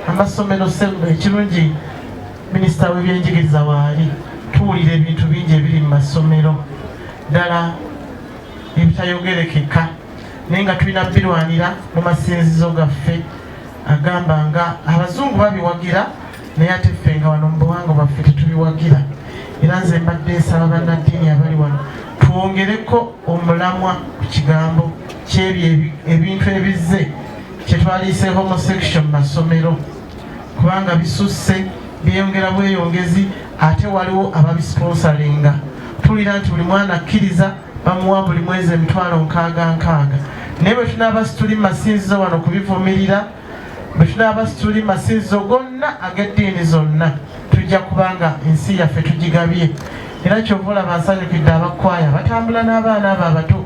amasomero sembwa ekirungi minisita w'ebyenjigiriza waali tuwulira ebintu bingi ebiri mu masomero ddala ebitayogerekeka naye nga tulina birwanira mu masinzizo gaffe agamba nga abazungu babiwagira naye ate ffe nga wano mu buwanga bwaffe tetubiwagira era nze mbadde nsaba bannaddiini abali wano twongereko omulamwa ku kigambo kyebyo ebintu ebizze kyetwaliise homosexual mu masomero kubanga bisusse byeyongera bweyongezi ate waliwo ababisponsalinga tuwulira nti buli mwana akkiriza bamuwa buli mwezi emitwalo nkaaga nkaaga naye bwe tunaaba situli masinzizo wano kubivumirira bwe tunaaba situli masinzizo gonna ag'eddiini zonna tujja kubanga ensi yaffe tugigabye era kyova olaba nsanyukidde abakwaya batambula n'abaana abo abato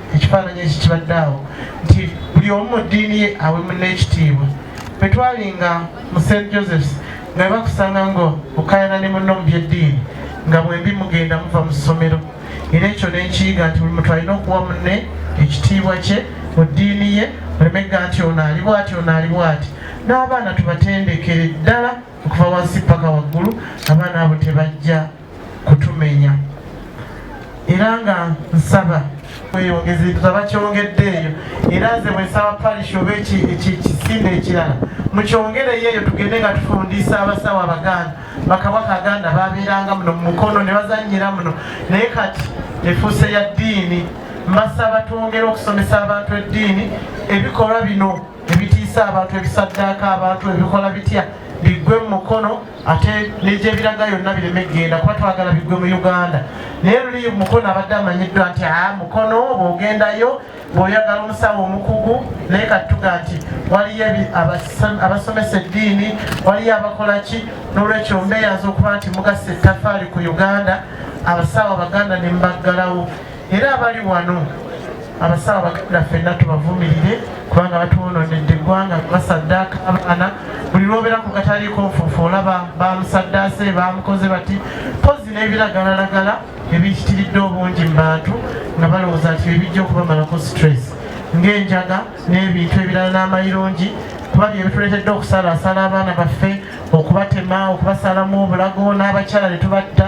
ekifaananyi eki kibadde awo nti buli omu mu ddiini ye awe munne ekitiibwa bwe twali nga mu st josephs nga bakusanga nga okayana ne munno mu byeddiini nga bwembi mugenda muva mu ssomero era ekyo nenkiyiga nti buli muntu alina okuwa munne ekitiibwa kye mu ddiini ye olemegga nti ono ali bwati ono ali bwati n'abaana tubatendekere ddala okuva wansi paka waggulu abaana abo tebajja kutumenya era nga nsaba weyongeze tuzaba kyongedde eyo era nze bwensaba parish oba ekisinde ekirala mukyongereyo eyo tugende nga tufundiisa abasawo abaganda bakabaka aganda babeeranga muno mumukono ne bazanyira muno naye kati efuuse ya ddiini mbasaba twongere okusomesa abantu eddiini ebikolwa bino ebitiisa abantu ebisaddaaka abantu ebikola bitya biggwe mu mukono ate negyebiraga yonna bireme kugenda kuba twagala biggwe mu uganda naye luli mukono abadde amanyiddwa nti a mukono bwogendayo bwoyagala omusawo omukugu naye katuga nti waliyo abasomesa eddiini waliyo abakolaki n'olwekyo mbeeyaza okuba nti mugasa ettafaali ku uganda abasawo abaganda ne mubaggalawo era abali wano abasawo baganda fenna tubavumirire kubanga batwononedde eggwanga basaddaaka abaana buli lwobeera ku kataliiko nfuufu olaba bamusaddaase bamukoze bati pozi n'ebiragalalagala ebiyitiridde obungi mu bantu nga balowooza nti bebijja okubamalako stress ng'enjaga n'ebintu ebirala n'amayirungi kuba byebituleetedde okusalaasala abaana baffe okubatema okubasalamu obulago n'abakyala ne tubatta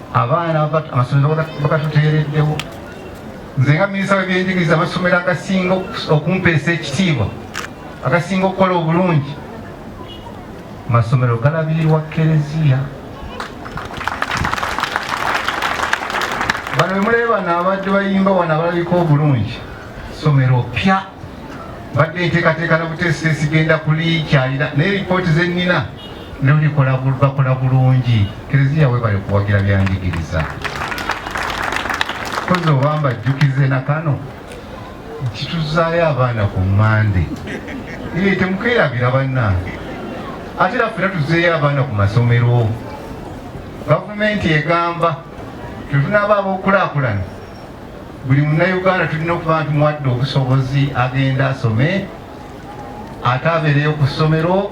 abaana amasomero bagatuteereddewo nze nga minisita webyenjigiriza amasomero agasinga okumpeesa ekitiibwa agasinga okukola obulungi masomero galabirirwa kereziya bano bemuleebano abadde bayimba wano abalabika obulungi somero pya badde enteekateeka na buteesiteesi genda kulikyalira naye lipooti zenina no likola bakola bulungi kereziya webale kuwagira byanjigiriza kozi obamba jjukize na kano kituzaayo abaana ku mande ee temukeerabira bannange ate era fena tuzeeyo abaana ku masomero gavumenti egamba tetunaaba ab'okulaakulana buli munnauganda tulina okuba nti muwadde obusobozi agenda asome ate abeereyo ku ssomero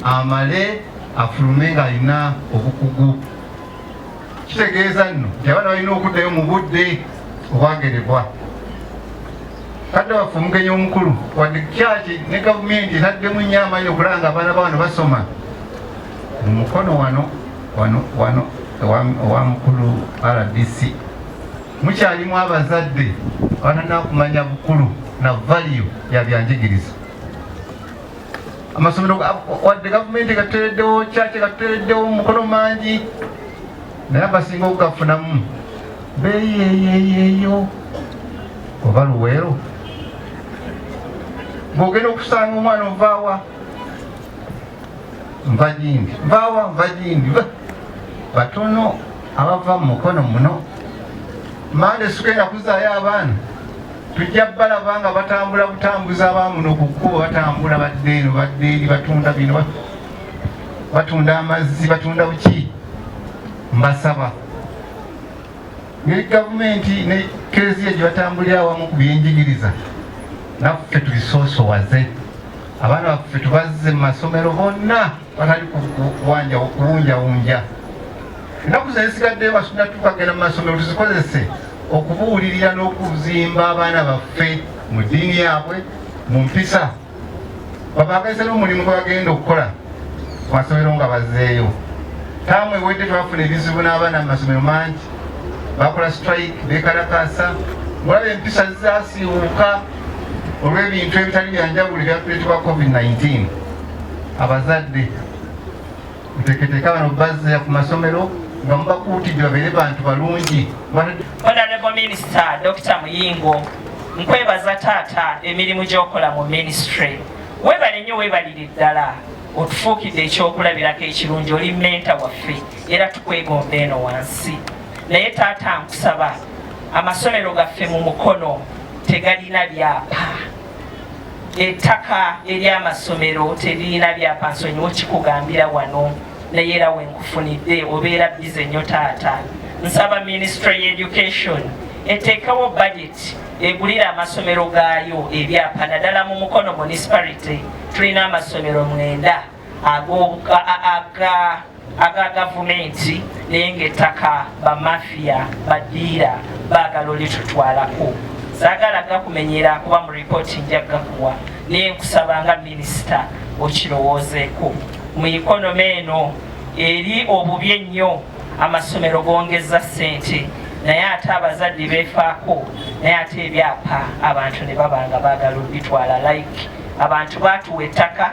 amale afulume ng'alina obukugu kitegeeza nno nti abaana balina okuddayo mu budde obwagerebwa kadde waffe omugenyi omukulu wadde kyaki ne gavumenti etaddemu nnyo amaanyi okulaba nga abaana baano basoma mu mukono wano wano wano owa mukulu rdc mukyalimu abazadde abananakumanya bukulu na valiyo ya byanjigiriza amasomero wadde gavumenti gatutereddewo kyaki gatutereddewo mu mukono mangi naye abasinga okugafunamu beyeyeyeyo oba luweero ng'ogenda okusanga omwana ovaawa nva gindi nvaawa nva gindi batono abava mu mukono muno mande sugenda kuzaayo abaana tujja balaba nga batambula butambuza abamuno ku kkubo batambula badde eno badde eri batunda bino batunda amazzi batunda buki mbasaba ne gavumenti ne kereziya gye batambulira awamu ku byenjigiriza naffe tubisoosowaze abaana baffe tubazze mu masomero bonna batali kuwunjawunja ennaku zesigaddeyo basubira tukagenda mu masomero tuzikozese okubuulirira n'okuzimba abaana baffe mu ddiini yaabwe mu mpisa babaagalize n'omulimu gwe bagenda okukola ku masomero nga bazeeyo taamu ewedde twafuna ebizibu n'abaana mu masomero mangi bakola strike bekalakasa mulaba empisa zasiiwuuka olw'ebintu ebitali byanjawulo ebyakuleetebwa covid-19 abazadde muteketeeka abana bazza ku masomero nga mubakuutidde babeere bantu balungi honorable minisita dr muyingo nkwebaza taata emirimu gyokola mu minisitry webale nnyo webalire ddala otufuukidde ekyokulabirako ekirungi oli menta waffe era tukwegomba eno wansi naye taata nkusaba amasomero gaffe mu mukono tegalina byapa ettaka ery'amasomero teririna byapa nsonyiwo kikugambira wano naye era wenkufunidde obeera bize nnyo taata nsaba minisitule y'education eteekewo budget egulira amasomero gaayo ebyapa naddala mu mukono municipality tulina amasomero mwenda aga gavumenti naye ngaettaka bamafiya badiira baagala olitutwalako sagala gakumenyera kuba mu ripooti nja gakuwa naye nkusaba nga minisita okirowoozeeko mu ikonomi eno eri obubi ennyo amasomero gongeza ssente naye ate abazadde befaako naye ate ebyapa abantu ne baba nga baagala obitwala like abantu baatuwa ettaka